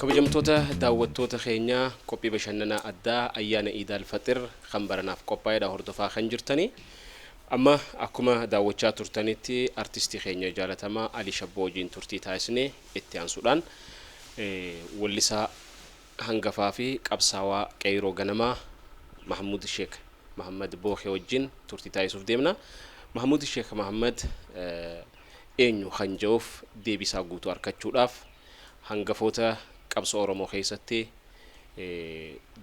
kabajamtoota daawwattoota keenyaa qophii bashannanaa addaa ayyaana iidaal faxir kan baranaaf qophaa'edha hordofaa kan jirtanii Amma akkuma daawwachaa turtanitti artistii keenya jaalatamaa Alii Shabboo wajjin turtii taasisne itti aansuudhaan wellisaa hangafaa fi qabsaawaa Qeeyroo Ganamaa Mahammud Sheek Mahammad Bookee wajjin turtii taasisuuf deemna. Mahammud Sheek Mahammad eenyu kan ja'uuf deebii isaa guutuu arkachuudhaaf hangafoota qabsoo Oromoo keessatti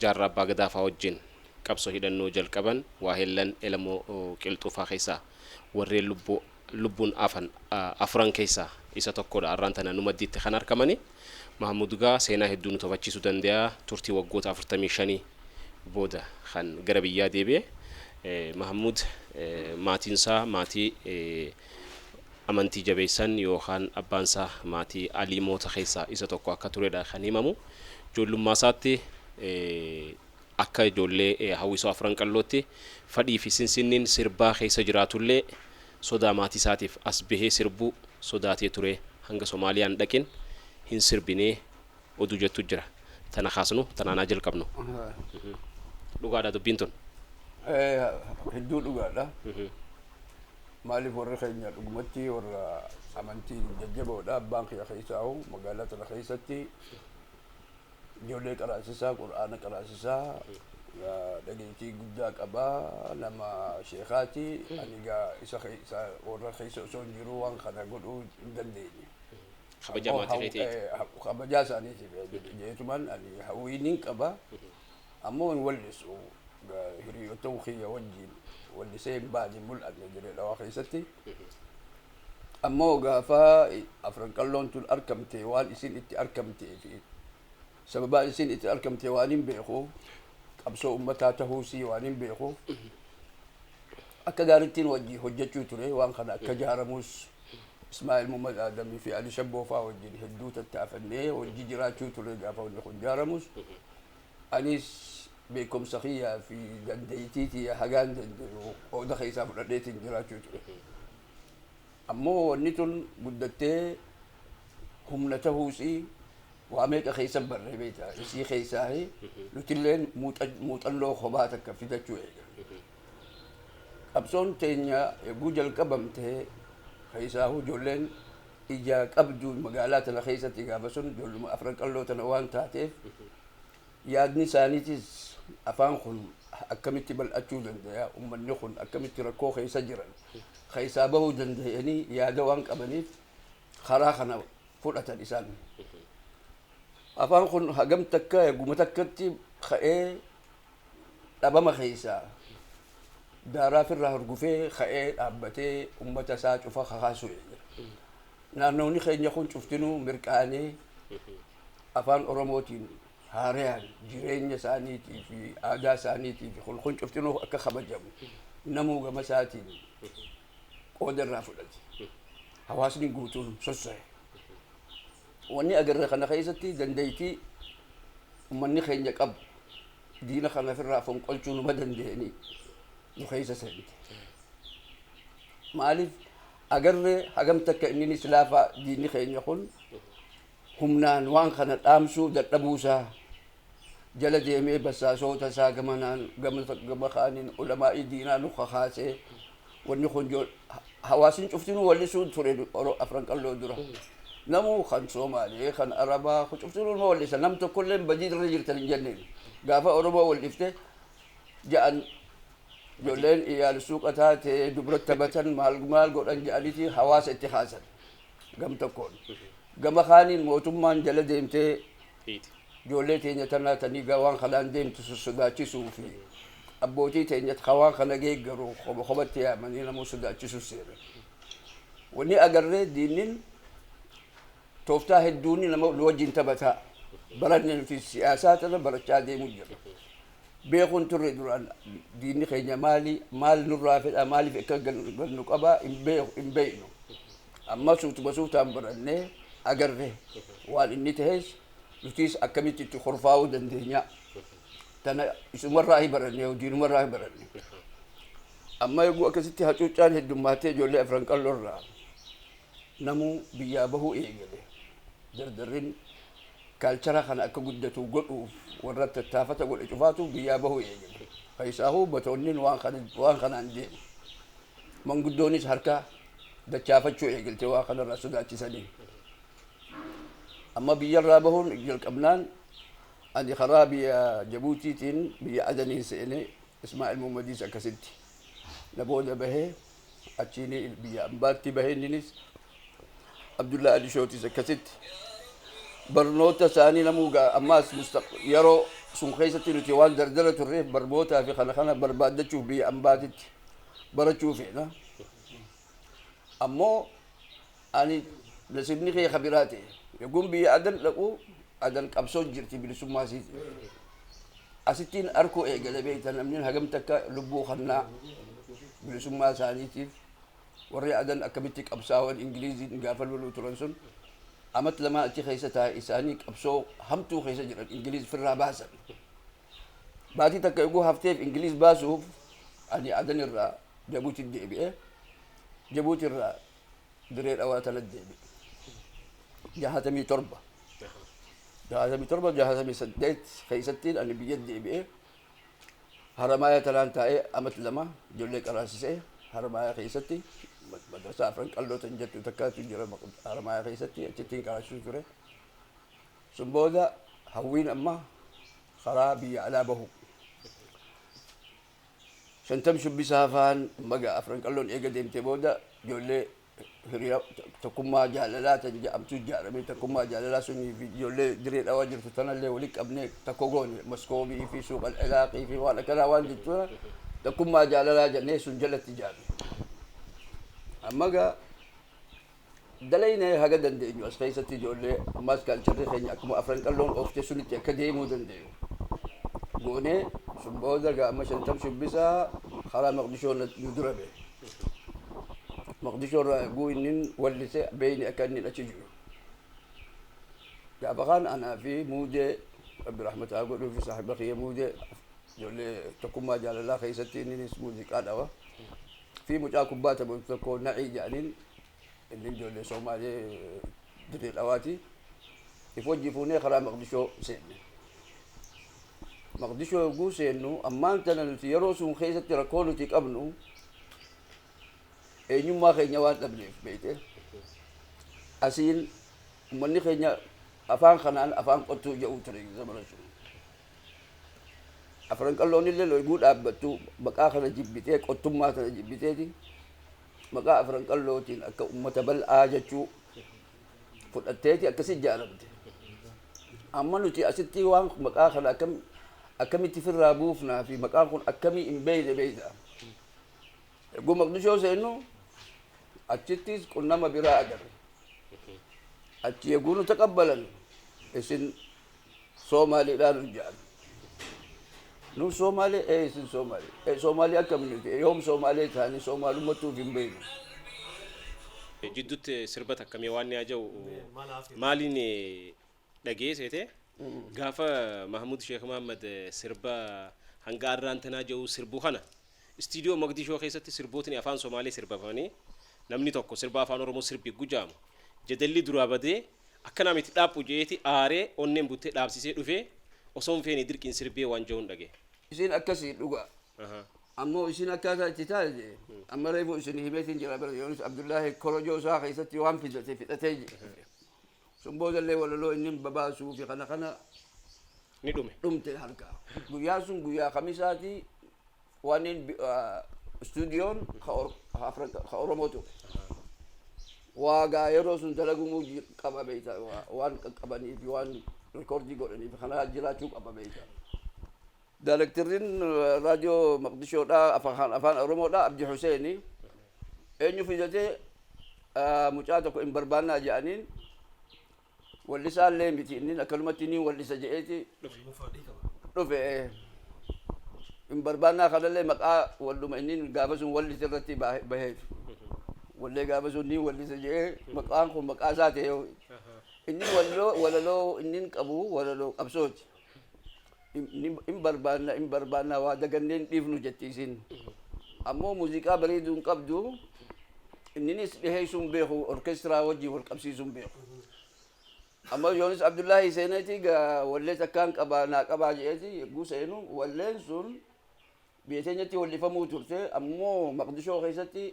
Jaarraa Abbaa Gadaa faa wajjin qabso hidhannoo jalqaban waahellan Elemoo Qilxuu faa keessaa warreen lubbuu lubbuun afan afuran keessaa isa tokkodha arraan tana nu maddiitti kan arkamani Mahammud gaa seenaa hedduu nu tapachiisu dandeya turtii waggoota 45 booda kan gara biyyaa deebi'e Mahammud maatiin isaa maatii amantii jabeessan yookaan abbaan isaa maatii Aliimoota keessaa isa tokko akka turedha kan himamu joollummaa isaatti Akka ijoollee Hawwisoo Afran Qallootti fadhiifi sinsinniin sirbaa keessa jiraatullee sodaa maatiisaatiif as bahee sirbuu sodaatee ture hanga Somaaliyaa hin dhaqin hin sirbine oduu jettu jira. Tana kaasnu tanaan haa jalqabnu. Dhugaadhaa dubbiin tun? Hedduu dhugaadha. Maaliif warri keenya dhugumatti warra amantiin jajjaboodha. Abbaan kiyya keessaahu magaalaa tana keessatti Ijoollee qaraasisaa, Qur'aana qaraasisaa, dhageettii guddaa qaba, nama sheekaati. Ani egaa isa keessa warra keessa osoo hin jiruu waan kana godhuu hin dandeenye. Kabaja Ammoo maatii haw- keetii. eh, ha- Kabajaa isaaniitiif eh, jedhe- jeetuman ani hawwiin hin qaba. Ammoo hin wallisu. Ga- Hiriyoota kiyya wajjin wallisee hin baane hin mul'anne dirree dhawaa keessatti. Ammoo gaafa Afran Qalloon tun arkamte waan isiin itti arkamtee fi sababaa isiin itti arkamte waanin beekuuf qabsoo ummataa tahuu isii waanin beekuuf akka gaarittiin wajjii hojjachuu ture waan kana akka jaaramuus Ismaa'il Mummad Aadamii fi Ali Shabboo faa wajjin hedduu tattaafannee wajji jiraachuu ture gaafa wanni kun jaaramuus Anis beekumsa kiyyaa fi dandeettii tiyya hagaan danda'u qooda keessaa fudhadheetiin jiraachuu ture. Ammoo wanni tun guddattee humna tahuusii waa meeqa keessan barree beektaa? Isii keessaa nutilleen muuxannoo kophaa takka fidachuu eegalle. Qabsoon teenya yogguu jalqabamte keessaahuu ijoolleen ija qabdu magaalaa tana keessatti gaafa sun ijoolluma afran qalloo tana waan taateef yaadni isaaniitis afaan kun akkamitti bal'achuu danda'a ummanni kun akkamitti rakkoo keessa jiran keessaa bahuu danda'anii yaada waan qabaniif karaa kana fudhatan isaan. Afaan kun hagam takka eeguma takkatti ka'ee dhabama keessa daaraa ofirraa hurgufee ka'ee dhaabbatee ummata isaa cufa kakaasu eegala. Naannoonni keenya kun cuftinuu mirqaanee afaan Oromootiin haarayaan jireenya isaaniitii fi aadaa isaaniitii fi kun kun cuftinuu akka kabajamu namuu gama isaatiin qooda irraa fudhate. Hawaasni guutuun sossa'e. Wanni agarre kana keessatti dandaytii ummanni keenya qabu diina kana ofirraa fonqolchuu numa dandayanii nu keessa seente. Maaliif agarre hagam takka inninis laafaa diinni keenya kun humnaan waan kana dhaamsuu dadhabuu isaa jala deemee bassaasoota isaa gamanaan gama kaaniin ulamaa'ii diinaa nu kakaasee Wanni kun jo- ha- hawaasin cuftinuu wallisuu ture du- oro- afran qalloo dura. Namuu kan Soomaalee, kan Arabaa, kun cuftinuu nama wallisa. Nam tokkollee badii irra jirtan hin jenneen. Gaafa Oromoo wallifte ja'an ijoolleen iyaal suuqa taate dubra taphatan maal maal godhan ja'aniiti hawaasa itti haasan gam tokkoon. Gama kaaniin mootummaan jala deemtee hiiti. Ijoollee teenya tanaa ta nigaa waan kanaan deemtu sun sodaachisuu fi abbootii teenya ka waan kana geeggaru koba kobatti yaamanii namuu sodaachisu seena. Wanni agarree diinnin tooftaa hedduun nama nu wajjin taphata. Baranne nuti siyaasaa tana barachaa deemu jirra. beekuu hin turre duraan diinni keenya maali maal nurraa fedha maaliif akka gannu qaba hin beeku hin beeknu amma suutuma suutaan barannee agarre waan inni ta'es nutiis akkamitti itti korfaa'uu dandeenya tana isumarraa hin baranne diinumarraa hin baranne amma eeguu akkasitti hacuuccaan heddummaatee ijoollee afran qalloorraa Namuu biyyaa bahuu eegale. Jarjarrin kaalchara kana akka guddatu godhuuf warra tattaafata godhe cufaatu biyyaa bahuu eegale. Keessaahuu batoonnin waan kanaan deemu. Manguddoonis harka dachaafachuu eegalte waa kanarraa sodaachisanii. Amma biyyarraa bahuun jalqabnaan ani karaa biyya Jabuutiitiin biyya Adaniin seene. Ismaa'il Muhammadiis akkasitti na booda bahe. achiini biyya ambaatti bahe inninis Abdullahi Ali Shootis akkasitti barnoota isaanii namuu ga'a ammaas mustaq- yeroo sun keessatti nuti waan dardara turreef barnootaa fi kana kana barbaaddachuuf biyya ambaatitti barachuu feena ammoo Ani nasibni kee ka biraa ta'e. Yogguun biyya Adan dhaqu, Adan qabsoo jirti bilisummaa isiitiif. Asittiin arkuu eegale beekta namni hagam takka lubbuu kannaa bilisummaa isaaniitiif. Warri Adan akkamitti qabsaawan Ingiliiziin gaafa loluu turan sun amat lamaa achi keessa taa'e isaanii qabsoo hamtuu keessa jiran Ingiliiz firraa baasan. Baatii takka yogguu hafteef Ingiliiz baasuuf ani Adan irraa Jabuuti deebi'e. Jabuuti irraa diree dhawaa tana deebi jahatamii torba jahatamii torba jahatamii saddeet keessattiin ani biyya deebi'ee haramaaya tanaan taa'ee amat lama ijoollee qaraasisee haramaaya keessatti madrasaa afran qalloo tan jettu takkaatu jira haramaaya keessatti achittiin qaraasisuu ture sun booda hawwiin amma karaa biyya alaa bahu Shantam Shubbisa Hafaan Baga Afran Qalloon eega deemtee booda ijoollee hiriya tokkummaa jaalalaa tan ja'amtu ijaaramee tokkummaa jaalalaa sunii fi ijoollee diree dhawaa jirtu tanallee wali qabnee tokko goone maskoobii fi suuqal ilaaqii fi waan akkanaa waan jechuudha tokkummaa jaalalaa jennee sun jalatti ijaarre amma gaa Dalaynee haga dandeenyu as keessatti ijoollee ammaas kaalcharri keenya akkuma Afran Qalloon oofte sunitti akka deemuu dandayu goonee sun booda egaa amma Shantam Shubbisaa karaa Maqdishoo na nu dura ba'e. Maqdishoo irraa eeguu innin wallise beeyne akka innin achi jiru. Gaafa kaan anaa fi Muudee Rabbi rahmata haa godhuu fi saahiba kiyya Muudee ijoollee tokkummaa jaalalaa keessatti inninis muuziqaa dhawa fi mucaa kubbaa taphatu tokko Na'ii jedhaniin Inni ijoollee Soomaalee Dirree Dhawaati. If wajji fuunee karaa Maqdishoo seenne. Maqdishoo yogguu seennu ammaan tana nuti yeroo sun keessatti rakkoo nuti qabnu eenyummaa keenya waan dhabneef beekte. Asiin uummanni keenya afaan kanaan afaan qottuu jedhu ture zamana sun. Afran qalloon illee loyguu dhaabbattu maqaa kana jibbitee qottummaa kana jibbiteeti. maqaa afran qallootiin akka ummata bal'aa jechuu fudhatteeti akkasi ijaaramte. Amma nuti asitti waan maqaa kana akkam akkamitti firraa buufnaa fi maqaan kun akkamii hin beeyne beeyta. Egguu maqdishoo seennu achittis qunnama biraa agarre. Achi egguu nu taqabbalan isin Somali dhaa nun ja'an. Nun Somali ee isin Somali. Ee Somali akkam nuti ee yoom Somali taane Somalummattu of hin beeynu. Jiddutti sirba takka mee waan ni aja'u maaliin dhaga'ee seete gaafa Mahmud Sheikh Muhammad sirba hanga arraan tanaa ja'u sirbu kana Studio Mogadisho keessatti sirbootni afaan Somali sirbafamanii namni tokko sirba afaan Oromoo sirbi gujaamu jadalli duraa badee Akkanaa miti dhaaphu je'eeti aaree onneen buttee dhaabsisee dhufee osoo hin feene dirqiin sirbee waan ja'uun dhagaye. Isiin akkasi dhugaa. Ammoo isiin akkaataa itti taate je'e amma reefu isinii himeetiin jira bar Yoonis Abdullaahi korojoo isaa keessatti waan fidate fidhatee je'e. Sun boodallee walaloo innin babaasuufi kana kana Ni dhume. dhumte harkaa. Guyyaan sun guyyaa kamisaati Waanniin istuudiyoon ka Oromoo ture. Waa gaa yeroo sun dalagumuu qaba beekta waan qaqqabanii fi waan rikoordii godhanii fi kanaa jiraachuu qaba beekta. Daayirektirriin raadiyoo Maqdishoodhaa afaan Oromoodhaa Abdi Huseeni eenyu fidatee mucaa tokko hin barbaannaa jedhaniin Wallisaa illee miti inni akkanumatti ni wallisa je'eeti dhufe. Hin barbaannaa kanallee maqaa walluma inni gaafa sun wallise irratti baa- baheef. Wallee gaafa sun ni wallisa je'ee maqaan kun maqaa isaa ta'e. Inni walloo walaloo inni qabu walaloo qabsooti. hin barbaanna hin barbaanna waa dagannee hin dhiifnu jetti isin ammoo muuziqaa bareeduu hin qabdu inninis dhiheessuu hin beeku orkeestiraa wajjin wal qabsiisuu hin beeku amma yoonis abdullaahi seeneeti wallee takkaan qabaa naa qabaa jedheeti yogguu seenu walleen sun biyya teenyatti wallifamuu turte ammoo maqdishoo keessatti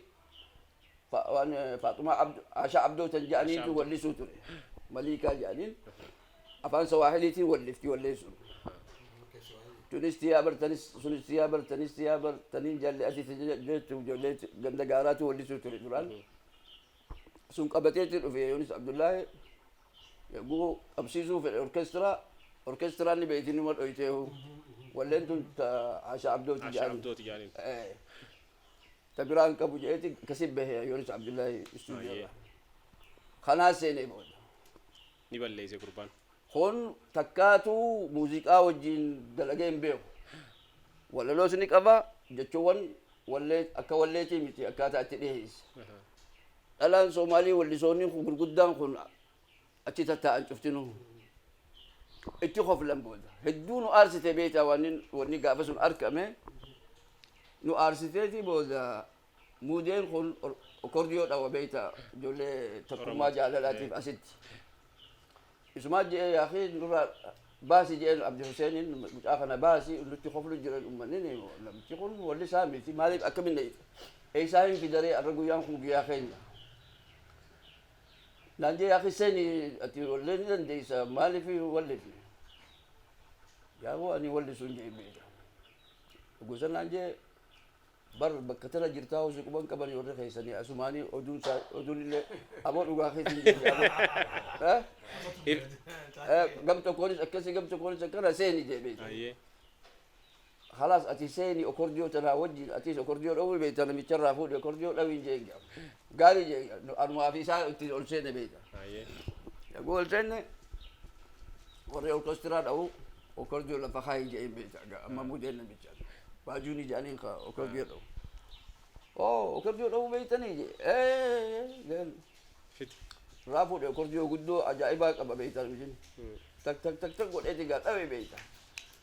Fa- waan, eh, Faaxumaa Abdu- Aashaa Abdoo tan jedhaniitu Aashaa Abdoo. wallisuu ture. Maliikaa jedhaniin afaan Sawaahiliitiin wallifti walleessuun. Tunis tiyaa bartanis, sunis tiyaa bartanis tiyaa bartaniin jaalli asii si jala- jettu ijoollee ganda gaaraatu wallisuu ture duraan. Sun qabateetti dhufe Yoonis Abdullaahi yogguu qabsiisuu fedhe orkestiraa orkestiraan ni beekti numa dhoyteehu. Walleen tun ta- Aashaa Abdooti Aashaa jedhani. Abdooti jedhaniin. Eh. ta biraa hin qabu jedheeti akkasi bahe Yoonis Abdullahi istuudiyoo Baay'ee. irraa. Kanaa seenee booda. Ni balleesse gurbaan. Kun takkaatu muuziqaa wajjin dalagee hin beeku. Walaloos ni qaba jechuuwwan wallee akka walleetii miti akkaataa itti dhiheessa. Dhalaan Soomaalii wallisoonni kun gurguddaan kun achi tattaa'an cuftinuu itti koflan booda hedduu nu aarsite beektaa waan wanni gaafa sun argame nu aarsiteeti booda muudeen kun kordiyoo dhawa beektaa ijoollee tokkummaa jaalalaatiif asitti isumaa je'ee yaakii nurraa baasi je'een abdi huseeniin mucaa kana baasi nutti koflu jiran ummanni namichi kun walli isaa miti maaliif akkamin eeysaa hin fidaree arra guyyaan kun guyyaa keenya Naan jee akhi seeni ati wallee ni dandeeysa maalifi wallifi gaafuu ani wallisu hin jee beeka gosa naan jee bar bakka tana jirtaa hosi quban qabani warri keessani asumaani oduun isaa oduun illee aboo dhugaa keessa hin jee aboo Eh? Eh, gam tokkoonis akkasi gam tokkoonis akkana seeni jee beeka Ayyee. Kalaas ati seeni okordiyo tanaa wajjin atiis okordiyo dhawuu beekta namicha irraa fuudhi okordiyo dhawiin jeen jedha. Gaarii jeen anumaa fi isaa ittiin ol seene beekta. Hayyee. Yaguu ol seenne warri orkestiraa dhawuu okordiyo lafa kaayii jeen beekta. Ga- Amma mudeen namicha. Baajuun ijaaniin ka okordiyo dhawu. Oo okordiyo dhawuu beektanii jee. Ee jeen Fiti. irraa fuudhe okordiyo guddoo ajaa'ibaa qaba beekta namichi. Tak tak tak tak godheeti gaa dhawe beekta.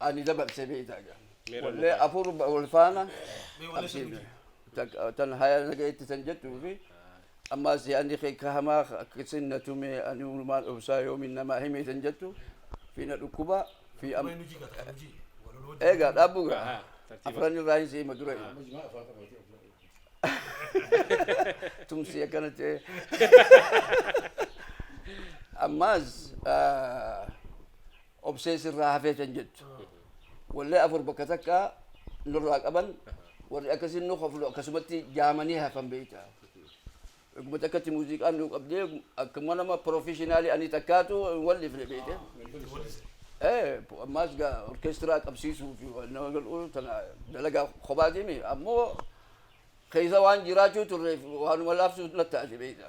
ani dabarse beektaa jira. Meera Wallee dhugaa. afur ba- wal faana Mee wallee qabsiifne. sirbitu. Takka- Tan haya nagayetti tan jettuu fi ammaas yaadni kee ka hamaa akkasin na tume ani uumaan obsaa yoomiin namaa himee tan jettu fi na dhukkubaa fi am- Mee nu jigata kan nu jige. Walaloo jige. eegaa dhaabbuu gaa Ahaa, tartiiba. afran irraa hin siima dura Amma jimaa afaan qabatee ofirra eeggatu. tumsi akkana ta'e ammaas ah, obsee sirraa hafee kan jettu wallee afur bakka takka nurraa qaban warri akkasiin nu koflu akkasumatti jaamanii hafan beekta akkuma takkatti muuziqaan nu qabdee akkuma nama pirofeshinaalii ani takkaatu wal dhifne beekte ee ammaas gaa orkeestiraa qabsiisuu fi waan nama galuu tana dalagaa kophaatiimi ammoo keessa waan jiraachuu turreef waanuma laafsuus na taate beekta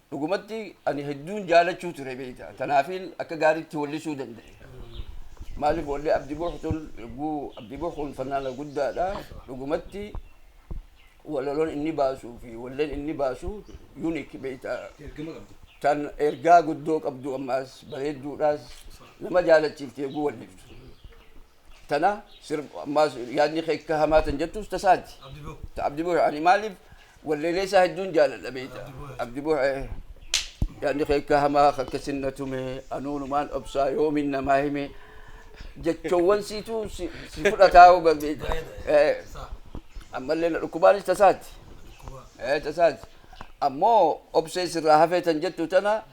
Dhugumatti ani hedduun jaalachuu ture beekta. Tanaafiin akka gaariitti wallisuu danda'e. Maaliif wallee Abdi Buux tun yogguu Abdi Buux kun fannaana guddaadha. Dhugumatti walaloon inni baasuu fi walleen inni baasu unique beekta. Ergama qabdi. Tan ergaa guddoo qabdu ammaas bareedduudhaas nama jaalachiifti yogguu walliftu. tana sirb ammaas yaadni kee akka hamaa tan jettus tasaati Abdi Boo. ta abdi buhe ani maaliif walleelee isaa hedduun jaaladha beeyta Abdi Buhe. abdi buhe yaadni kee akka hamaa akka sinna tume anuunumaan obsaa yoomin namaa hime jechoowwan siitu si si fudhataa hoga beeyta Baay'ee Eh, Saa. ammallee na dhukkubaanis tasaati Dhukkuba. Eh, tasaati ammoo obsee sirraa hafee tan jettu tana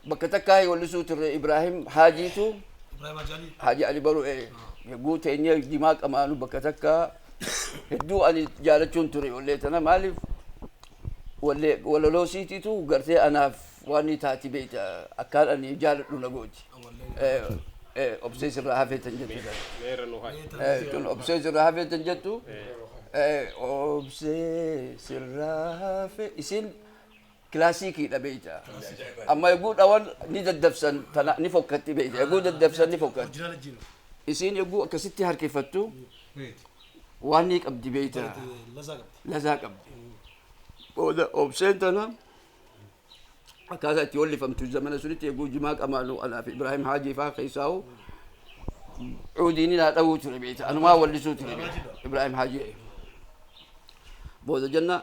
Bakka takkaa yoo lisuu turre Ibraahim Haajiitu Ibrahim Ajali. Haaji Ali Baruu ee yagguu teenyee jimaa qamaanu bakka takkaa hedduu ani jaalachuun ture ollee tana maaliif wallee walaloo siitiitu gartee anaaf waan ni taati beeyta akkaan ani jaaladhu na gooti. Eh, eh, Obsee sirraa hafee tan jettu jala. Meerra nu hayi. Eh, tun obsee sirraa hafee tan jettu. Eh, obsee sirraa hafee isin Kilaasiikii dha bee ja'a. Amma yogguu dhawan ni daddabsan tana ni fokkatti bee ja'a. Yogguu daddabsan ni fokkatti. Isiin yogguu akkasitti harkifattu waan ni qabdi bee ja'a. Lazaa qabdi. Booda obseen tana akkaataa itti hollifamtu zamana sunitti yogguu jimaa qamaanu anaa fi Ibraahim Haajii faa keessaa'u cuudiin ni naa dhawuu ture bee ja'a. Anumaa wallisuu ture bee ja'a. Ibraahim Haajii. Booda jenna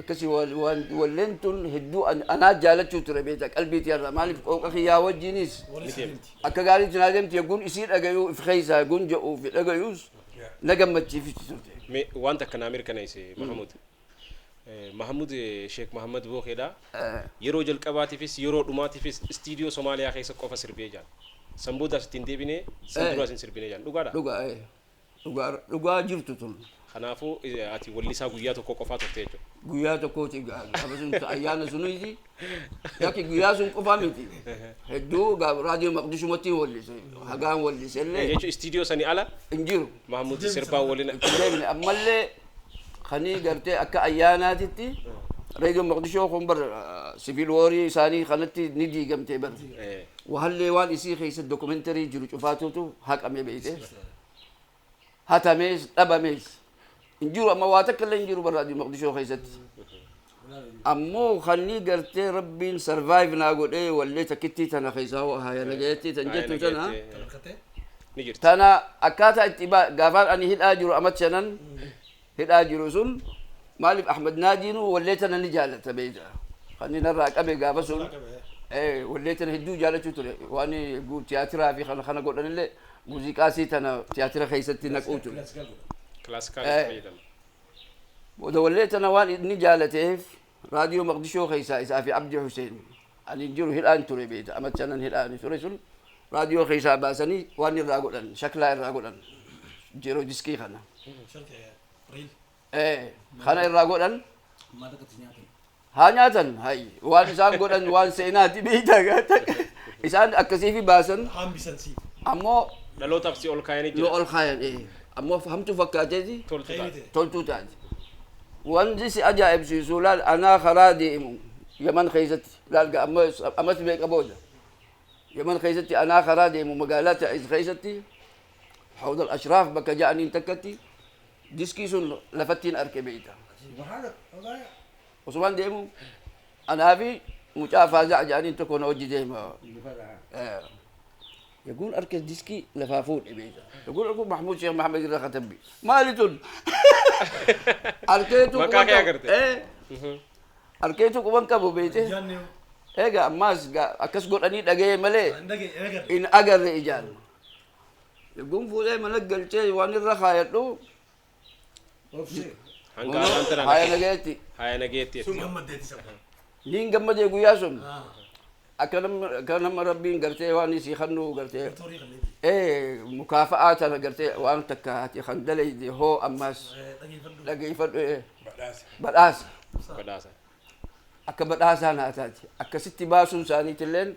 Akkasi walleen tun hedduu anaa jaalachuu ture beektaa qalbii tiyarraa maaliif qooqa kiyyaa wajjiinis akka gaariitti naa deemti yagguun isii dhagayuu if keessaa yagguun ja'uu fi dhagayuus na gammachiifti turte. Mee waan takka naa mirkaneessi Mahamud. Mahamud Sheek Mahammad Bookeedha. Yeroo jalqabaatiifis yeroo dhumaatiifis istiidiyoo Somaaliyaa keessa qofa sirbee jedhan. San boodaas itti hin deebine san duraas hin sirbine jedhan. Dhugaadhaa? Dhugaa ee. Dhugaadha. Dhugaa jirtu tun. Kanaafuu ati wellisaa guyyaa tokkoo qofaa turte jechuudha. Guyyaa tokkooti gaa gaafa sun ayyaana sunis yakki guyyaa sun qofaa miti. Hedduu gaa raadiyoo maqdishumatti hin wellise. Hagaan wellise illee Jechuun istiidiyoo sanii ala hin jiru. Mahmuud sirbaa waliin Itti deemne ammallee kanii gartee akka ayyaanaatitti reediyoon Moqdishoo kun bar siviil woorii isaanii kanatti ni diigamtee bar. Wahallee waan isii keessa dookumentarii jiru cufaatuutu haqamee beeyte. Hatamees dhabamees. Hin jiru amma waa takka illee hin jiru bar raadiyoo Moqdishoo keessatti. Ammoo kannii gartee rabbiin survive naa godhee wallee takkittii tana keessaa hoo haaya nagayeettii tan jettu tana Ni jirti. tana akkaataa itti ba- gaafaan ani hidhaa jiru amat shanan hidhaa jiru sun maaliif ahmad naajiinuu wallee tana ni jaalata beeyta kan inni narraa qabe gaafa sun eh, wallee tana hedduu jaalachuu ture waan gu- tiyaatiraa fi kana kana godhanillee muuziqaasii tana tiyaatira keessatti naquu ture Classical Eh. fayyadama. Booda wallee tana waan inni jaalateef Raadiyoo Maqdishoo keessaa isaa fi Abdi Huseen ani jiru hidhaan ture beekta ama shanan hidhaa ani ture sun raadiyoo keessaa baasanii waan irraa godhan shaklaa irraa godhan jiroo diskii kana. Ee, kana irraa godhan Maal akkatti nyaatan? Haa nyaatan hayi waan isaan godhan waan seenaati beeyta gaata. Isaan akkasiifi baasan Hambisan siif. ammoo Dhalootaaf si ol kaayanii nu jira. ol kaayan ee. Ammoo hamtuu fakkaateeti Toltu Kayri taate. ta'e. toltuu taate. Wanti si ajaa'ibsiisu laal anaa karaa deemu yaman keessatti laal ga amma ammas meeqa booda yaman keessatti anaa karaa deemu magaalaa ta'iz keessatti hawdal ashraaf bakka ja'aniin takkatti Diskii sun lafattiin arke beeyta. Osumaan deemu anaa fi mucaa faaza'a jedhaniin tokko na wajji deema. Yaguun arke diskii lafaa fuudhe beeyta. Yaguun arku Mahmuud Sheekh Mahamed irra katabbi. Maali tun? Arkeetu Maqaa quban kee qabu. agarte. Eh, Arkeetu quban qabu beeyte. Egaa ammaas gaa- akkas godhanii dhaga'ee malee hin agarre ijaan. Yogguun fuudhee mana galchee waan irra kaayadhu Obsee. Hanga ammaan tana haaya nagee. nageetti. Haaya nageetti Sun jechuudha. gammaddee itti sabba. Niin gammadee guyyaa sun Ah. akka nama akka nama rabbiin gartee waan isii kannuu gartee Toorii kan deebi. ee mukaafa'aa tana gartee waan takka ati kan dalayde hoo ammaas Dhageeffadhu. dhageeffadhu ee Badhaasa. badhaasa Badhaasa. akka badhaasaa naa taate akkasitti baasuun isaaniitilleen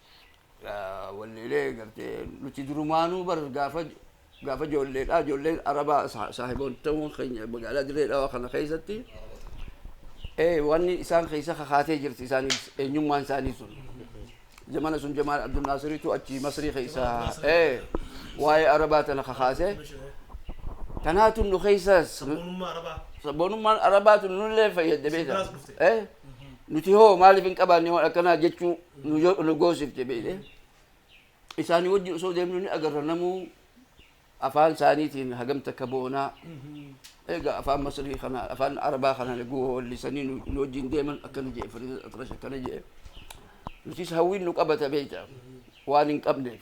Walleelee gartee nuti durumaanuu bar gaafa gaafa ijoolleedha ijoolleen arabaa saahibootawwan keenya magaalaa dirree dhawaa kana keessatti wanni isaan keessa kakaatee jirti isaaniif eenyummaan isaanii sun zamana sun jamaal abdul naasiriitu achi masrii keessa waa'ee arabaa tana kakaasee tanaatu nu keessaas sabboonummaan arabaatu nullee fayyadde beekta Nuti hoo maaliif hin qabaanne waan akkanaa jechuu nu yoo nu goosifte beekte. Isaanii wajjin osoo deemnu ni agarra namuu afaan isaaniitiin hagam takka boonaa. Egaa afaan Masrii kana afaan Arabaa kana laguu hoollisanii nu nu wajjin deeman akkana jedhe Fariidaa Atrash akkana jedhe. Nutis hawwiin nu qabata beekta waan hin qabneef.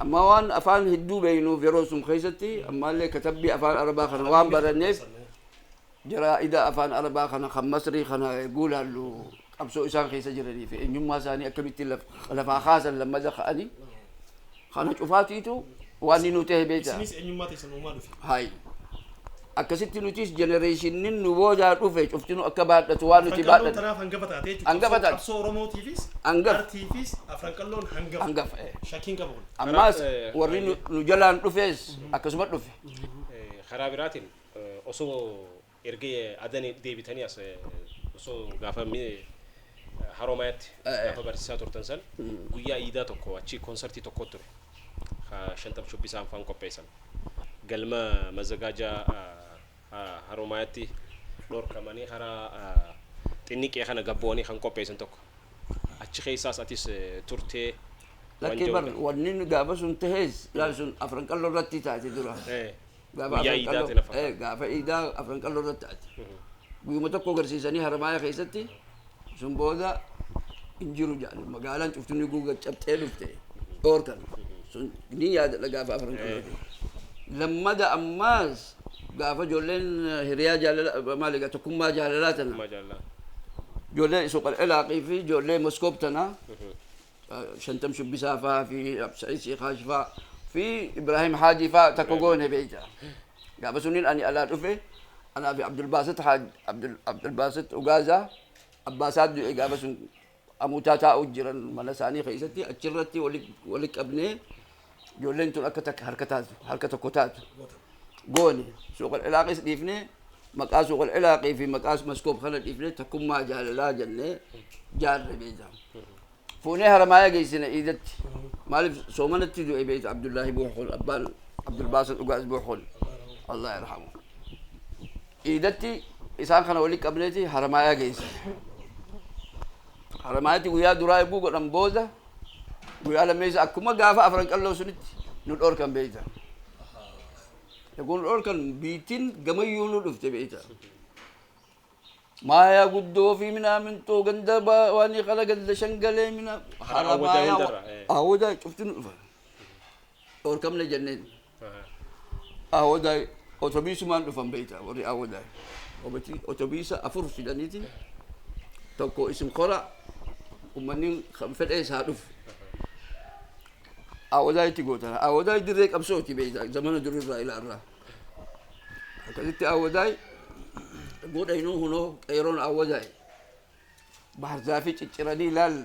Ammaa waan afaan hedduu beeynuuf yeroo sun keessatti ammaallee katabbii afaan arabaa kana waan baranneef jaraa'ida afaan arabaa kana kan masrii kana eeguu laallu qabsoo isaan keessa jiranii fi eenyummaa isaanii akkamitti lafaa kaasan lammada ka'anii kana cufaatiitu waan inni nu ta'e beektaa. Isinis eenyummaa teessan uumaa dhufe. Hayi. Akkasitti nutis jenereeshinnin nu boodaa dhufe cuftinu akka baadhatu waan nuti Afranqalloon baadhanne. tanaaf hangafa taate jechuudha. Hangafa Qabsoo taate. qabsoo Oromootiifis, Hangafa. Artiifis Afranqalloon hangafa. Hangafa, eh. Shakkii hin qabu kun. Ammaas Karaa, eh, warri nu baay'ee. nu jalaan dhufes akkasuma dhufe. Eh, karaa biraatiin eh, osoo erga Adan deebitanii as eh, osoo gaafa mi- Haroomayaatti gaafa barsiisaa turtan san guyyaa iidaa tokko achi konsartii tokko ture ka shanxab shubbisaan faan qopheessan galma mazagaajaa haroomayaatti dhorkamanii karaa xinniqee kana gabbo'anii kan qopheessan tokko achi keessaas atis turtee Lakkee bar wanni gaafa sun tahes laal sun afran qalloo irratti taate dura. Gaafa Guyyaa afran iidaa qalloo- ta'e na eh, fakkaata. gaafa iidaa afran qalloo irratti ati guyyuma tokko agarsiisanii haramaaya keessatti sun booda hin jiru jedhan magaalaan cuftunni guuga cabxee dhufte dhoorkan sun ni yaadadha gaafa afran qalloo ta'e. lammada ammaas gaafa ijoolleen eh, hiriyaa jaalala maali egaa tokkummaa jaalalaa tana Maa jaalala. ijoollee suuqal ilaaqii fi ijoollee moskoob tana shantam shubbisaa faa fi Sa'iid Siikaash faa fi Ibraahim Haajii faa takka goone beeyta. Gaafa suniin ani alaa dhufe anaa fi Abdulbaasit Haaj Abdul Abdulbaasit Ugaazaa abbaasaa du'e gaafa sun amuutaa taa'u jiran mana isaanii keessatti achirratti wali wali qabnee ijoolleen tun akka takka harka taatu harka tokko taatu goone suuqal ilaaqis dhiifne maqaa suuqal ilaaqii fi maqaa maskoob kana dhiifne takkummaa jaalalaa jenne jaarre beeyta fuunee haramaaya geessine iidatti maaliif soomanatti du'e beeyta abdullaahi buuxul abbaan abdulbaasa dhugaas buuxul allah yarhamu iidatti isaan kana walitti qabneeti haramaaya geessine haramaayatti guyyaa duraa eeguu godhan booda Guyyaa lammeessa akkuma gaafa afran qalloo sunitti nu dhorkan beeyta. Kun dhorkan biittin gamayyuu nu dhufte beeyta. Maaya guddoo fi minaamintoo ganda ba- waan kana ganda shangalee mina Awwadaa hundarra, eh. awwadaa cufti nu dhufa. Dhorkamne jenneen. Awadaay otobiisumaan dhufan beekta warri awadaay. Obatii otobiisa afur fidaniiti tokko isin kora ummanni kan fedhee isaa dhufu. Awadaay itti gootana. Awadaay dirree qabsooti beekta zamana durirraa ilaarraa. Akkasitti awadaay godha inuu hunoo qeeroon awadaay. Baarzaafii cicciranii laal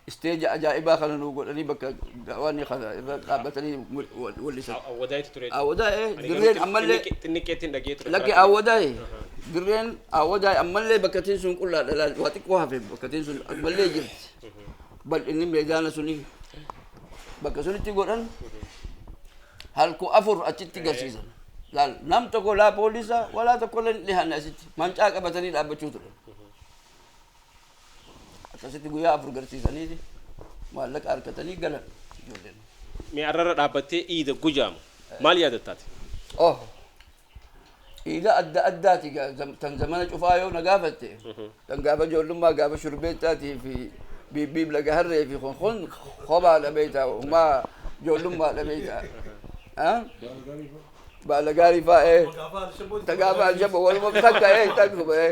Stage ajaa'ibaa kana nuu godhanii bakka da'waanni kana irra dhaabbatanii wal- wallisan. Awwadaayitu ture. Awwadaa'e Ani garuu dirreen xin- ammallee xinniqqee- xinniqqeettiin dhaga'ee ture. lakki Karaa- awwadaa'e dirreen awwadaa'e ammallee bakkatiin sun qullaadha laal waa xiqqoo hafe bakkatiin sun ammallee jirti bal'inni meedaana suni bakka sunitti godhan halku afur achitti garsiisan laal nam tokko laa poolisa walaa tokkollee hin dhihaanne asitti mancaa qabatanii dhaabbachuu ture Akkasitti guyyaa afur garsiisaniiti maallaqa arkatanii galan ijoolleen. Mee arrarra dhaabbattee iida gujaamu maal yaadatta ati? Oh! Iida adda addaati gaa zam- tan zamana cufaa yoo na gaafatte tan gaafa ijoollummaa gaafa shurbeettaatii fi biibbiib laga harree fi kun kun kophaadha beektaa humaa ijoollummaadha beektaa. Ah? Baala gaarii faa ee. Gaafa Alshaboo. Tagaafa Alshaboo waluma takka ee takkuma ee.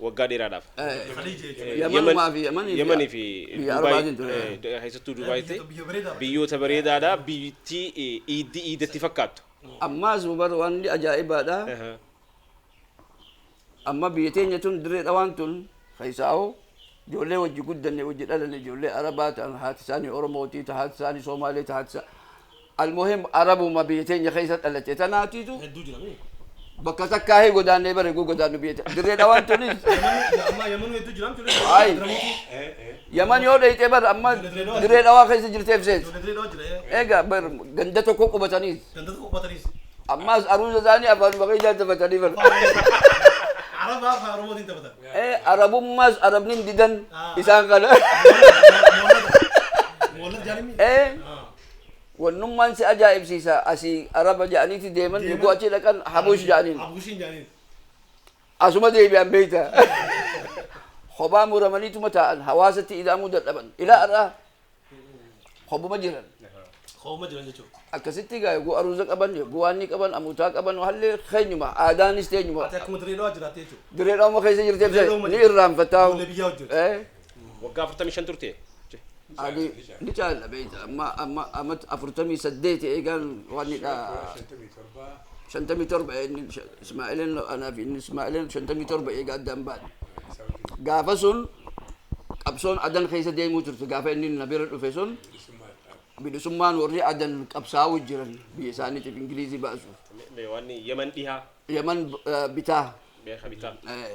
waggaa dheeraadhaaf. Yaman fi Yaman fi keessattuu Dubaayitti biyyoota bareedaadha biyyatti iiddi iidatti fakkaattu. Ammaas bar wanni ajaa'ibaadha. Amma biyya teenya tun dirree dhawaan tun keessaa'oo ijoollee wajji guddanne wajji dhalanne ijoollee Arabaa ta'an haati isaanii Oromootii ta haati isaanii Soomaalee ta haati isaanii Almuhim arabuma biyya teenya keessa dhalatte tanaatitu Hedduu jira mii. bakka takkaa hii godaannee bara eeguu godaannu biyya te- dirree dhawaan tunis Yamani ja- ammaa yamanuu hedduu jira miti. Ayi. Diramuutu. Ee, ee. yaman yoo dhayxee bara amma Ijoollee Dirree Dhawaa dirree dhawaa keessa jirteef sees Ijoollee dirree dhawaa jira. ee. eega bar ganda tokko qubataniis Ganda tokko qophataniis. ammaas aruusa isaanii afaanuma keessaa taphatanii bara Arabaa afaan Oromootiin taphatan. ee arabummaas arabni hin didan Ah. isaan kana Moolata. Moolata jaalimii. ee Ah. Wannummaan si ajaa'ibsiisa asii Araba ja'aniiti deeman yogguu achii dhaqan Habush ja'aniin. Asuma deebi'an beeyta. Kophaa muramaniituma taa'an hawaasatti ida'amuu dadhaban. Ilaa har'aa kophuma jiran. Kophuma jiran jechuudha. Akkasitti egaa yogguu aruuza qaban yogguu waan ni qaban amuutaa qaban hallee keenyuma aadaanis teenyuma. Ati akkuma Dirree Dhawaa jiraatte jechuudha. Dirree Dhawaama keessa jirteef ni irraanfataa. Ijoollee biyyaa wajjin. Waggaa 45 turte. Ani ni caala beekta amma amma amma afurtamii saddeeti eegaan waan hidhaa shantamii torba shantamii torba inni sha- Ismaa'ileen anaa fi inni Ismaa'ileen shantamii torba eegaa addaan baane. isaa wajjin Gaafa sun qabsoon adan keessa deemuu turte gaafa inni na bira dhufe sun bilisummaa dhaaf bilisummaan warri adan qabsaa'uu jiran biyya isaaniitiif Ingilizii baasuuf. Me- me- Waan Yemen dhihaa Yaman eh, bitaa beeka bitaa. eh,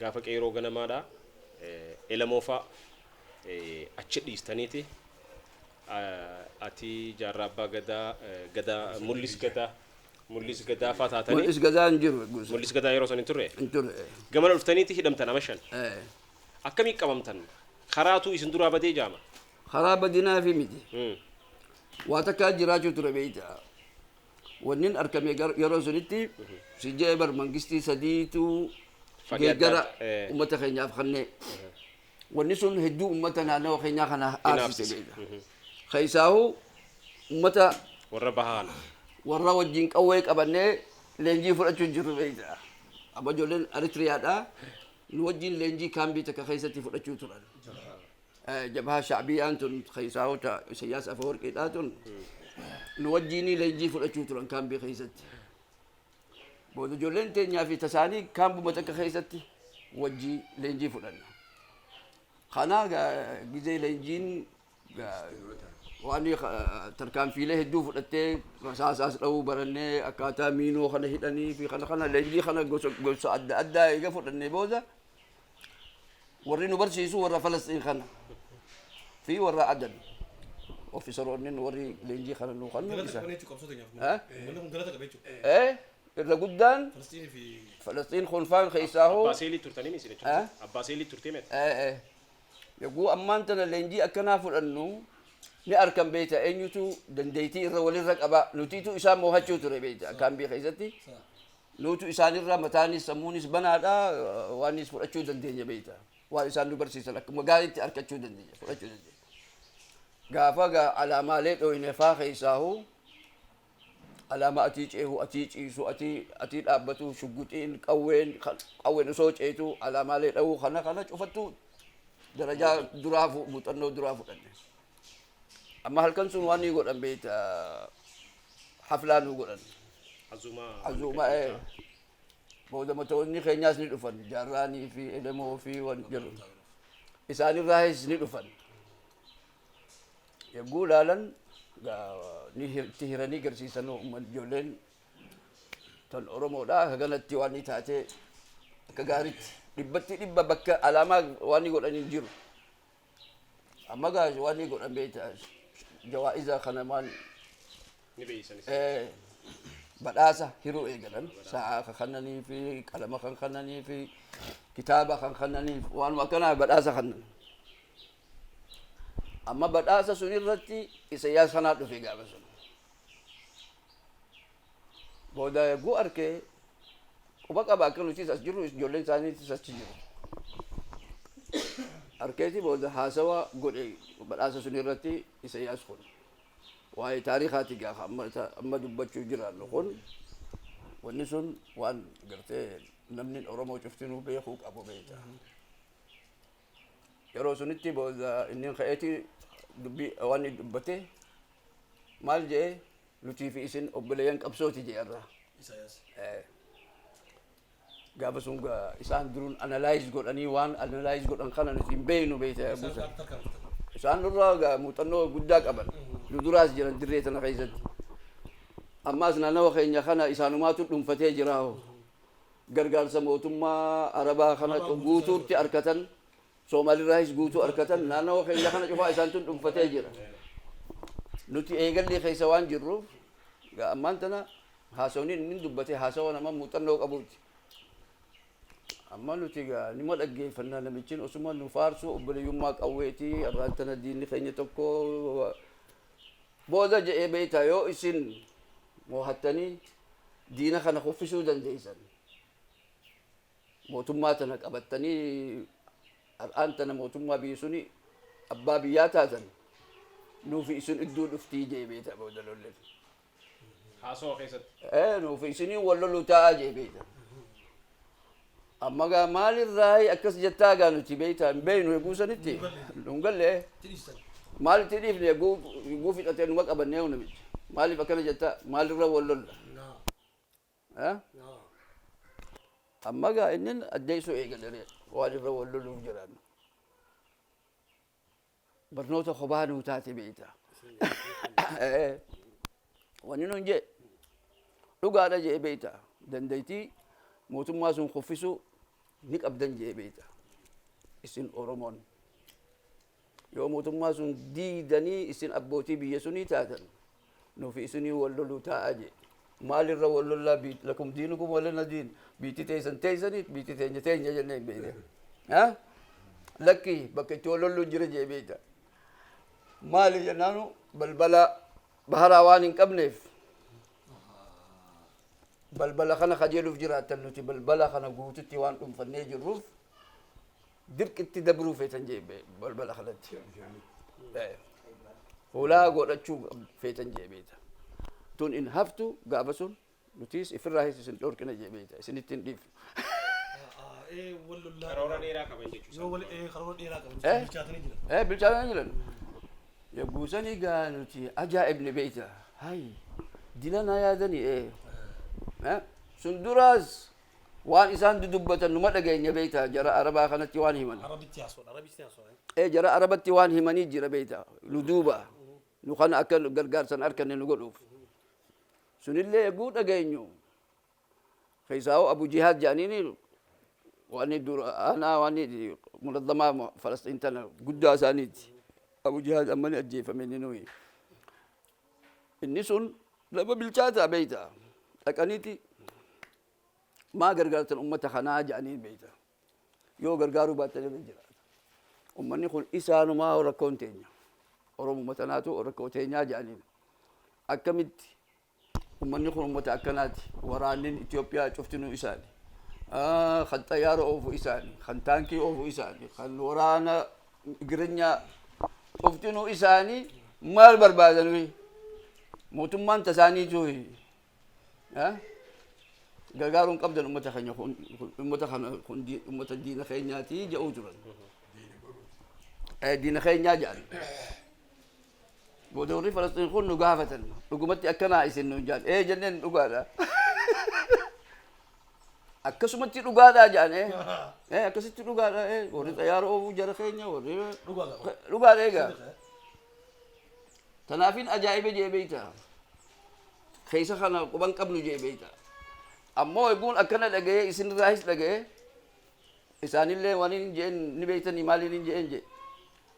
Gaafa qeeroo ganamaadha. Elemoo faa achi dhiistaniiti. Ati jaarraa abbaa gadaa gadaa mullis gadaa mullis gadaa faa taatanii. Mul'is gadaa hin jiru guusa. Mullis gadaa yeroo san hin turre. Hin turre. Gamana dhuftaniiti hidhamtan ama shan. Eh, Akkamii qabamtan? Karaatuu isin duraa badee jaama. Karaa badinaa fi miti. Waa takkaa jiraachuu ture beeyta. wannin argame gar- yeroo sunitti si jee bar mangistii sadiitu Fadhi adda geeggara adda, eh. ummata keenyaaf kannee wanni sun hedduu ummata naannawa keenyaa kana aarsise Inaafsise. beeka keessaahu ummata Warra bahaa kana. warra wajjin qawwee qabannee leenjii fudhachuu jirru beekta. Amma ijoolleen Eritiriyaadha. Nu wajjin leenjii kaambii takka keessatti fudhachuu turan. jabhaa shacbiyaan tun keessaahu ta Isayyaas Afawarqiidhaa tun nu wajjiinii leenjii fudhachuu turan kaambii keessatti. Booda ijoolleen teenyaa fi tasaanii kaambuma takka keessatti wajjii leenjii fudhanna. Kanaa gizee leenjiin waan tarkaanfiilee hedduu fudhattee rasaasaas dha'uu barannee akkaataa miinoo kana hidhanii fi kana kana leenjii kana gosa adda addaa eega fudhannee booda Warri nu barsiisu warra Falasxiin kana fi warra Adan. Ofiisaroonni nu warri leenjii kana nu kan nu Galata isa. qabna jechuudha qabsoo teenyaaf. Eh? Uummanni kun galata qaba jechuudha. Eh? Irra guddaan Falasxiinii fi Falasxiin kolfaan keessaa hoo. Abbaa seelii turtanii isin jechuudha. Eh? Abbaa seelii turtee mee? Eh, eh. Yogguu ammaan tana leenjii akkanaa fudhannu ni arkan beekta eenyutu dandeettii irra walirra qaba nutiitu isaan moohachuu ture beekta kaambii keessatti Nutu isaanirra mataanis sammuunis banaadha waanis fudhachuu dandeenya beekta. Waan isaan nu barsiisan akkuma gaariitti arkachuu dandeenya fudhachuu dandeenya. Gaafa gaa alaamaalee dhooynefaa keessaahu alaamaa atii ceehu atii ciisu atii atii dhaabbatu shugguxiin qawween kan- qawween osoo ceetu alaamaalee dha'uu kana kana cufattu darajaa duraa fu- muuxannoo duraa fudhanne. Amma halkan sun waan ni godhan beekta haflaa nu godhan. Azumaa. Azuuma ee. Booda matoonni keenyaas ni dhufan jaarraanii fi elemoo fi waan jiru. Isaanirraahis ni dhufan. Yogguu ilaalan gaa- ni hir- itti hiranii garsiisan uummanni ijoolleen tan Oromoodha akka kanatti waan ni taate akka gaaritti dhibbatti dhibba bakka alaamaa waan ni godhan hin jiru. Amma gaas waan ni godhan beektaa jawaa'iza kana maal Ni beeysan isin. eh, badhaasa hiruu eegalan sa'aa kan kannanii fi qalama kan kannanii fi kitaaba kan kannanii fi waanuma akkanaa badhaasa kannan. Amma badhaasa sun irratti isa yaa sanaa dhufe gaafa sun. Booda yogguu arke quba qaba akka nutis as jirru ijoolleen isaaniitis achi jiru. Arkeeti booda haasawa godhe badhaasa sun irratti Isayyaas kun. Waa'ee taarikaati gaafa amma, amma dubbachuu jiraannu kun wanni sun waan gartee namni Oromoo cuftinuu beekuu qabu beekta. Yeroo sunitti booda inni ka'eeti dubbii waan dubbate maal jedhee Nutii fi isin obboleeyyan qabsooti jee irraa. Isaayyaas. Eh, Gaafa sun ga- isaan duruun analaayiz godhanii waan analaayiz godhan kana nuti hin beeynu beeyta Isaan buusa. qaamni tarkaanfatan. Isaan nurraa ga- muuxannoo guddaa qaban. Nu duraas jiran dirree tana keessatti. Ammaas naannawa keenya kana isaanumaatu dhuunfatee jira hoo. Gargaarsa mootummaa Arabaa kana Arabaa guutuutti guutuu. arkatan Soomaalirraahis guutuu arkatan naannawa keenya kana cufaa isaantu dhunfatee jira. Nuti eegallii keessa waan jirruuf egaa ammaan tana haasawni inni dubbate haasawa nama muuxannoo qabuuti. Amma nuti egaa nima dhaggeeffannaa namichin osuma nu faarsuu obboleeyyummaa qawweeti arraan tana diinni keenya tokko booda jedhee beektaa yoo isin moohattanii diina kana kuffisuu dandeessan. Mootummaa tana qabattanii har'aan tana mootummaa biyyi suni abbaa biyyaa taatan nuufi isin idduu dhuftii jee beeta booda lollen. Haasawa keessatti. Ee nuufi isiniin wal loluu taa'aa jee beeta. Amma gaa maalirraa akkas jettaa gaa nuti beeta hin beeynu eeguu sanitti nun galle maal itti dhiifne eeguu eeguu fixatee numa qabannee hunda miti maaliif akkana jettaa maalirra wal lolla. Amma gaa inni addeessuu eegalee waalirra wal loluuf jiran. Barnoota kophaa nuu taate beekta. Wanni nuun jee dhugaadha jee beekta. Dandeettii mootummaa sun kuffisuu ni qabdan jee beekta. Isin Oromoon. Yoo mootummaa sun diidanii isin abbootii biyya sunii taatan, nufi isinii wal loluu taa'a jee. Maal irra wal lollaa biit lakum diinukum walana diin biitti teessan teessaniit biitti teenya teenya jennee hin beekne. Ha? Lakki bakka itti wal lolluun jira jee beekta. Maali jennaanu balbala baharaa waan hin qabneef balbala kana kajeeluuf jiraattan nuti balbala kana guututti waan dhunfannee jirruuf dirqitti dabruu feetan jee be- balbala kanatti Eh, hulaa godhachuu qab- feetan jee beeta tun in haftu gaafa sun nutiis ifirraa hees isin dhorkina jee beeta isinitti hin dhiifne Karoora dheeraa qaban jechuudha. Yoo wal ee karoora dheeraa qaban Eh? bilchaatanii jiran. Eh, bilchaatanii jiran. Yogguu sanii gaa nuti ajaa'ibni beeyta. Hayi, dila na yaadani ee. Eh, Sun duraas Waan isaan dudubbatan numa dhageenya beeyta jara arabaa kanatti waan himan. Arabitti haasoo dha arabitti haasoo dha. Ee jara arabatti waan himanii jira beeyta nu duuba nu kana akka gargaarsa hin arkanne nu godhuuf sunillee egguu dhageenyu keessaahuu abu jihaad jedhaniini waanni dura aanaa waanni munazzamaa falasxiin tana guddaa isaaniiti abu jihaad amma ni ajjeefame inni nuyi Inni sun nama bilchaataa beeyta. Dhaqaniiti maa gargaartan ummata kanaa jedhaniin beeyta. Yoo gargaaruu baattan irra jiraata. Ummanni kun isaanumaa rakkoon teenya. Oromuma tanaatu rakkoo teenyaa jedhaniin. Akkamitti ummanni kun ummata akkanaati. Waraannin Itoophiyaa cuftinuu isaani. Kan xayyaara oofu isaani. Kan taankii oofu isaani. Kan waraana Girinyaa cuftinuu isaanii maal barbaadanui mootummaan tasaaniituui gargaaruun qabdan ummata keenya kun ummata kana kun ummata diina keenyaati jedhuu turan. Diina keenyaa jedhan. Booda warri Falasxiin kun nu gaafatan dhugumatti akkanaa isin nuun jedhan. Ee jenneen dhugaadha. Akkasumatti dhugaadhaa jedhan ee. Ee akkasitti dhugaadhaa ee warri xayyaara oofuu jara keenya warri dhugaadhaa egaa. Tanaafin ajaa'ibe jee beeyta. Keessa kana quban qabnu jee beeyta. Ammoo eguun akkana dhaga'ee isinirraahis dhaga'ee isaanillee waan hin jeen ni beeytanii maaliin hin jeen jee.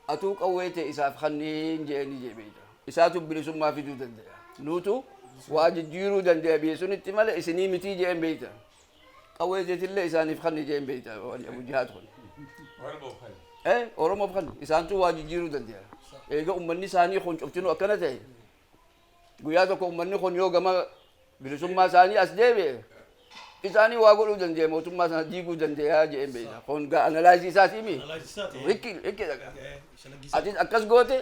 Atuu qawwee tee isaaf kanniin je'eeni je'e beeyta. Isaatu bilisummaa fiduu dandeya. Nuutu waa jijjiiruu dandeya biyya sunitti malee isinii mitii je'een beeyta. Qawwee teetillee isaaniif kanni je'een beeyta wani Abu Jihaad kun. Oromoof kanni. Ee Oromoof kanni. Isaantu waa jijjiiruu dandeya. Eega ummanni isaanii kun cuftinuu akkana ta'e Guyyaa tokko ummanni kun yoo gama bilisummaa isaanii as deebi'e isaanii waa godhuu dandeeya mootummaa sana diiguu dandeeya jedheen beekna. Kun gaa analaayizii isaati mi? Analaayizii isaati. Rikki rikki dhagaa. Shalaggisaa. Atis akkas goote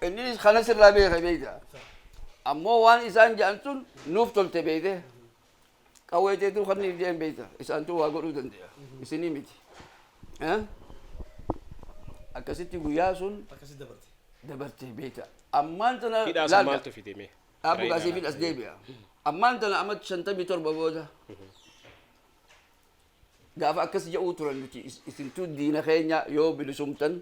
innis kanas irraa beeka beekta. Ammoo waan isaan jedhan sun nuuf tolte beekte Qawwee teetuu kanniif jeen beekta. Isaantuu waa godhuu danda'a. Isinii miti. Eh? Akkasitti guyyaa sun Akkasii dabarte. dabartee beekta. Ammaan tana Hidhaa sun laalga. maaltu fide mee? Dhaabuu Karaa gaasii hidhaa fidhas laata? deebi'a. Ammaan tana amma shantamii torba booda. Gaafa akkas jedhuu turan nuti is- isintuu diina keenya yoo bilisumtan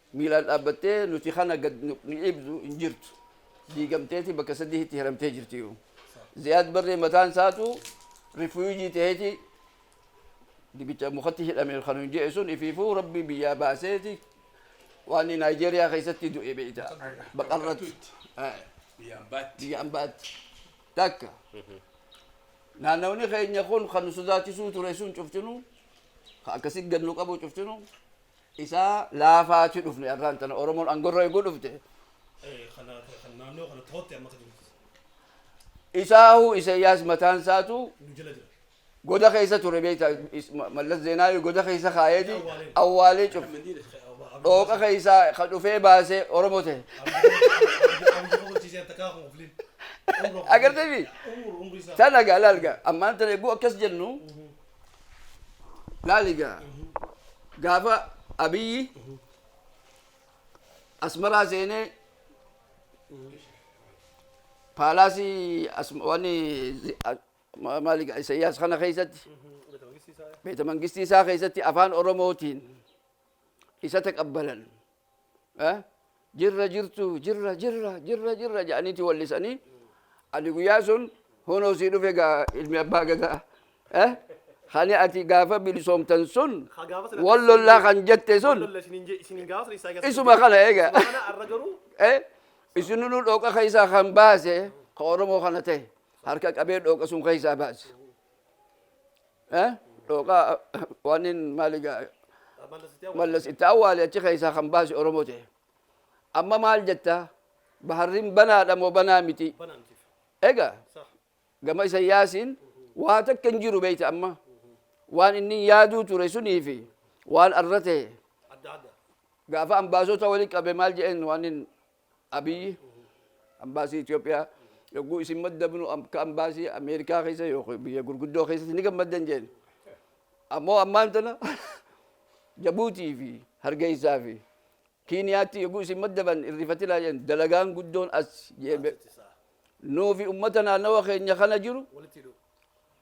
Miilaan dhaabbattee nuti kana gad nu dhiibdu hin jirtu. Diigamteeti bakka sadihitti hiramtee jirtiyu. Ziyaad Barree mataan isaatu rifuyujii ta'eeti dibicha mukatti hidhame kan hin je'e sun ifiifuu rabbi biyyaa baaseeti waan Naayijeeriyaa keessatti du'e beeyta. Baqarratti. Biyyaan baatti. Biyyaan baatti. Takka. Naannawni keenya kun kan nu sodaachisuu ture sun cuftinu kan akkasitti gad nu qabu cuftinu isaa laafaa ti dhufne arraan tana oromoon angorra eguu dhufte isaahu isayyaas mataan isaatu goda keessa ture beekta mallas zeenaawi goda keessa kaayeeti awwaalee cuf dhooqa keessaa ka dhufee baasee oromoo ta'e agartee fi sana gaalaalga ammaan tana eguu akkas jennu laali gaa gaafa abiyyi asmaraa seenee paalaasii as- waan zi- a- ma- maali gaa isayyaas kana keessatti beeta mangistii isaa keessatti afaan oromootiin isa taqabbalan jirra jirtu jirra jirra jirra jirra jedhaniiti wallisanii ani guyyaa sun honoo sii dhufe gaa ilmi abbaa gadaa kani ati gaafa bilisoomtan sun wal lollaa kan jette sun isuma kana eega isininu dhooqa keessaa kan baase ka oromoo kana ta'e harka qabee dhooqa sun keessaa baase Eh? Dhooqaa waanin maali gaa mallas itti awwaale achi keessaa kan baase Oromoo ta'e. Amma maal jetta? Baharrin banaadha moo banaa miti? Egaa gama isa yaasiin waa takka hin jiru beeyta amma. Waan inni yaaduu ture sunii fi waan arra ta'e gaafa ambaasota wali qabe maal jedheen waanin Abiy, Ambaasii Itoophiyaa yogguu isin maddabnu akka ambaasii Ameerikaa keessa yookiin biyya gurguddoo keessatti ni gammaddan jeen. Ammoo ammaan tana Jabuutii fi Hargeessaa fi Kiiniyaatti yogguu isin maddaban hin rifatinaa jeen. Dalagaan guddoon as jeen. Nuu fi ummata naannawa keenya kana jiru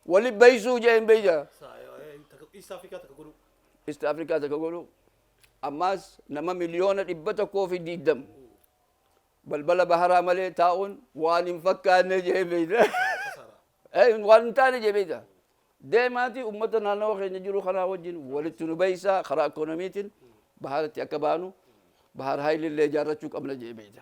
wali baysuu jeen beeyta. East Africa takka godhuu. Ammaas nama miliyoona 120 balbala baharaa malee taa'uun waan hin fakkaanne jee beeyda. Waan hin taane jee beeyda. Deemaati ummata naannawa keenya jiru kanaa wajjin walitti nu beeysaa karaa ikoonomiitiin baharatti akka baanu bahar haayilillee ijaarrachuu qabna jee beeyda.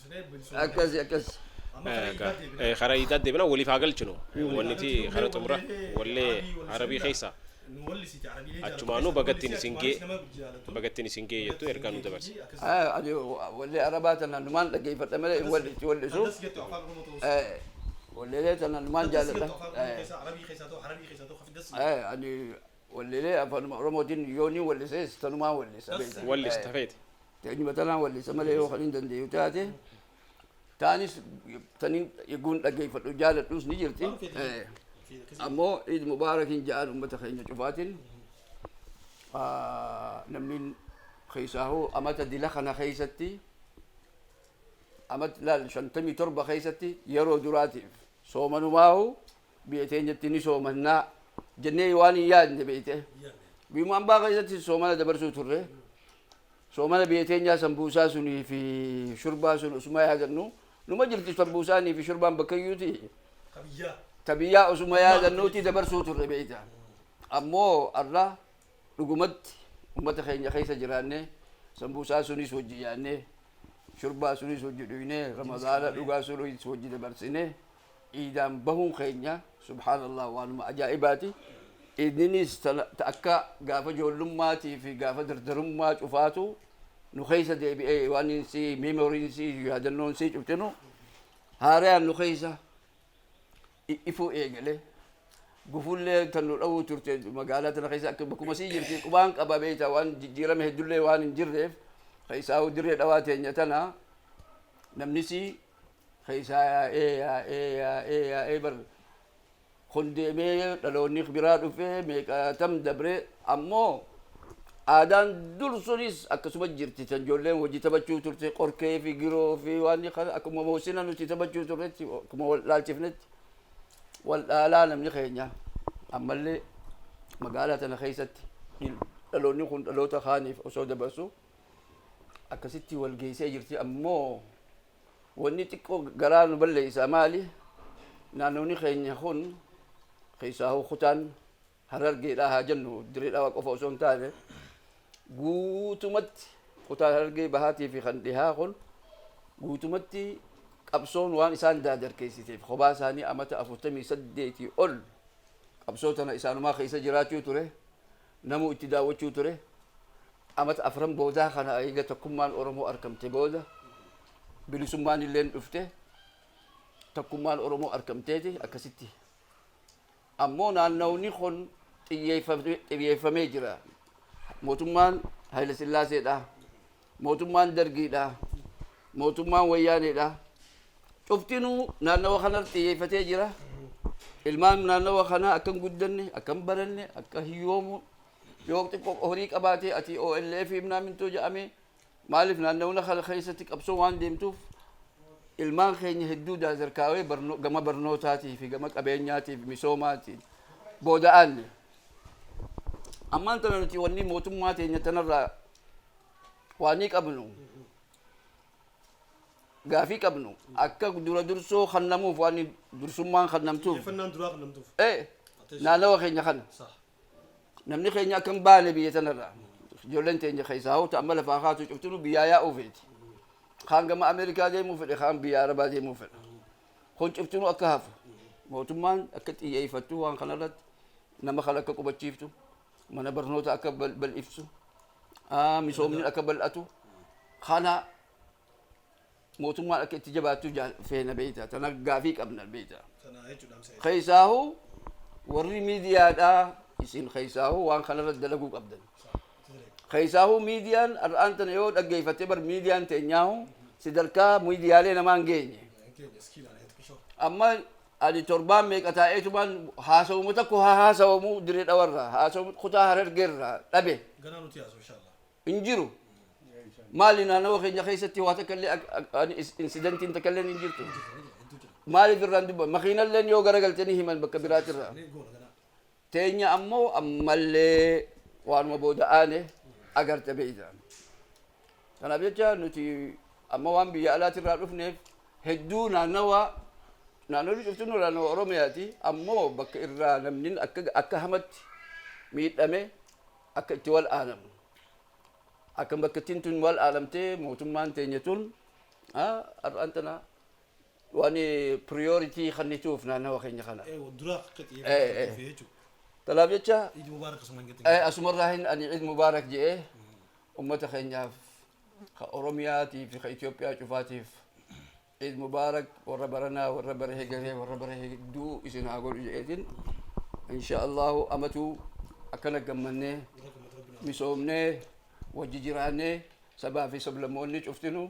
akkasi akkasi kara idaa deebina waliif haa galchinu wanniti kara xumura wallee arabii keessa achumaanuu bagattiin isin gee bagattiin isin gee jettu ergaa nu dabarse Ah, ani wallee arabaa tana numaan dhaggeeffadha malee hin wal- itti wal'isu Eh, walleelee tana numaan jaalladha Eh, eh, ani Walleelee afaanuma Oromootiin yooniin wallisees tanumaan wallisa beekta. Wallista Eh, feete. Teenyuma tanaan wallisa malee yoo kan hin dandeenyu taate taanis tanin eguun dhaggeeffadhu jaaladhus ni jirti. Eh, Ammoo Iid Mubaarakiin ja'aan uummata keenya cufaatiin ah, namni keessaa hoo amata dila kana keessatti amat laal shantamii torba keessatti yeroo duraatiif soomanumaahu Biyya teenyatti ni soomannaa jennee waan hin yaadne beekte. Biyyuma ambaa keessatti soomana dabarsuu turre. Soomana biyya teenyaa sambuusaa sunii fi shurbaa sun osuma yaadannu numa jirti sambuusaanii fi shurbaan bakkayyuuti. Ta biyyaa osuma yaadannuuti dabarsuu turre beekta. Ammoo har'a dhugumatti uummata keenya keessa jiraannee sambuusaa sunis wajji nyaannee shurbaa sunis wajji dhugnee ramadaana dhugaa sunis wajji dabarsinee. iidaan bahuun keenya subhaanallah waanuma ajaa'ibaati. Iidninis ta akka gaafa joollummaatii fi gaafa dardarummaa cufaatu nu keessa deebi'ee waan insi memory'n si yaadannoon si cuftinu haarayaan nu keessa ifuu eegale. Gufullee tan nu dhawuu turte magaalaa tana keessa akka bakkuma sii jirti qubaan qaba beekta waan jijjiirame heddullee waan hin jirreef keessaa dirree dhawaa teenya tana namnisi keessaa yaa'ee yaa'ee yaa'ee yaa'ee bar kun deemee dhaloonni biraa dhufee meeqaatam dabree ammoo aadaan dur sunis akkasuma jirti tan ijoolleen hojii taphachuu turte qorkee fi giroo fi waan kana akkuma moosina nuti taphachuu turretti akkuma wal dhaalchifnetti wal dhaalaa namni keenya ammallee magaalaa tana keessatti hin- dhaloonni kun dhaloota kaaniif osoo dabarsu akkasitti wal geessee jirti ammoo Wanni xiqqoo garaa nu balleessaa maali? Naannooni keenya kun keessaahuu kutaan Harargeedhaa haa jennu Dirree Dhawaa qofa osoo hin taane guutumatti kutaan Harargee bahaatii fi kan dhihaa kun guutumatti qabsoon waan isaan daadarkeessiteef kophaa isaanii amata 48 ol qabsoo tana isaanumaa keessa jiraachuu ture Namuu itti daawwachuu ture. Amata afran boodaa kana eega tokkummaan Oromoo arkamte booda bilisummaanilleen dhufte. Tokkummaan Oromoo arkamteeti akkasitti. Ammoo naannawni kun xiyyeeffamee jira. Mootummaan Hayila Sillaaseedha. Mootummaan Dargii dha, mootummaan Wayyaanee dha. Cuftinuu naannawa kanarratti xiyyeeffatee jira. Ilmaan naannawa kanaa akka hin guddanne, akka hin baranne, akka hiyyoomu yoo xiqqoo horii qabaate ati OLF himnaa mintoo jedhame maaliif naannawna kana keessatti qabsoo waan deemtuuf ilmaan keenya hedduu daazarkaawee barno, gama barnootaatii fi gama qabeenyaatii fi misoomaatiin booda'aanne. Ammaan tana nuti wanni mootummaa teenya tanarraa waanii qabnu gaafii qabnu akka dura dursoo kannamuuf waan dursummaan kannamtuuf Xiyyeeffannaan duraa kan namtuuf. ee naannawa keenya kana Saha. namni keenya akka hin baane biyya tanarraa ijoolleen teenya keessaa hoo ta'an mala fa'aa kaatu cuftinu biyyaa yaa'uu feeti kaan gama ameerikaa deemuu fedhe kaan biyya arabaa deemuu fedha kun cuftinu akka hafu mootummaan akka xiyyeeffattu waan kanarratti nama kan akka qubachiiftu mana barnoota akka bal- bal'iftu ah, misoomni akka bal'atu kana mootummaan akka itti jabaattu jaa- feena beeyta tana gaafii qabna beeyta Kana jechuudha amsa. keeysaahu warri miidiyaadhaa isin keeysaahu waan kanarra dalaguu qabdan keeysaahu miidiyaan har'aan tana yoo dhaggeeyfatte bar miidiyaan teenyaahu sadarkaa miidiyaalee namaan geenye Keenya iskiilaan heetu qishoo. amma Ani torbaan meeqa taa'eetumaan haasawuma tokko haa haasawamu Dirree Dhawarraa, haasawuma kutaa Harargeerraa dhabe. Ganaa nuti haasoo inshallah. Hin jiru. Maali naannawa keenya keessatti waa takka illee insidantiin takka illee hin jirtu. Maaliif irraan dubba makiinalleen yoo garagaltanii himan bakka biraatirraa. teenya ammo ammallee waanuma booda aane agarte beeyta. Kanaaf jecha nuti amma waan biyya alaatirraa dhufneef hedduu naannawa naannolli cufti nu naannawa Oromiyaati ammoo bakka irraa namni akka hamatti miidhame akka itti wal aanamu akka bakkattiin tun wal aanamtee mootummaan teenya tun har'aan tana Waan priority kennituuf naannawa keenya kana. Eewa duraa akka Eh, eh. xiyyeeffatu dhufe jechuudha. Kanaaf jecha Iid Mubaarak asumaan gadi. eh, asumarraa hin ani Eid Mubaarak jedhee ummata keenyaaf ka Oromiyaatii fi ka Itoophiyaa cufaatiif Eid Mubaarak warra baranaa warra bara hegeree warra bara hedduu isin haa godhu jedheetiin insha Allahu amatuu akkana gammannee misoomnee wajji jiraannee sabaa fi sablammoonni cuftinu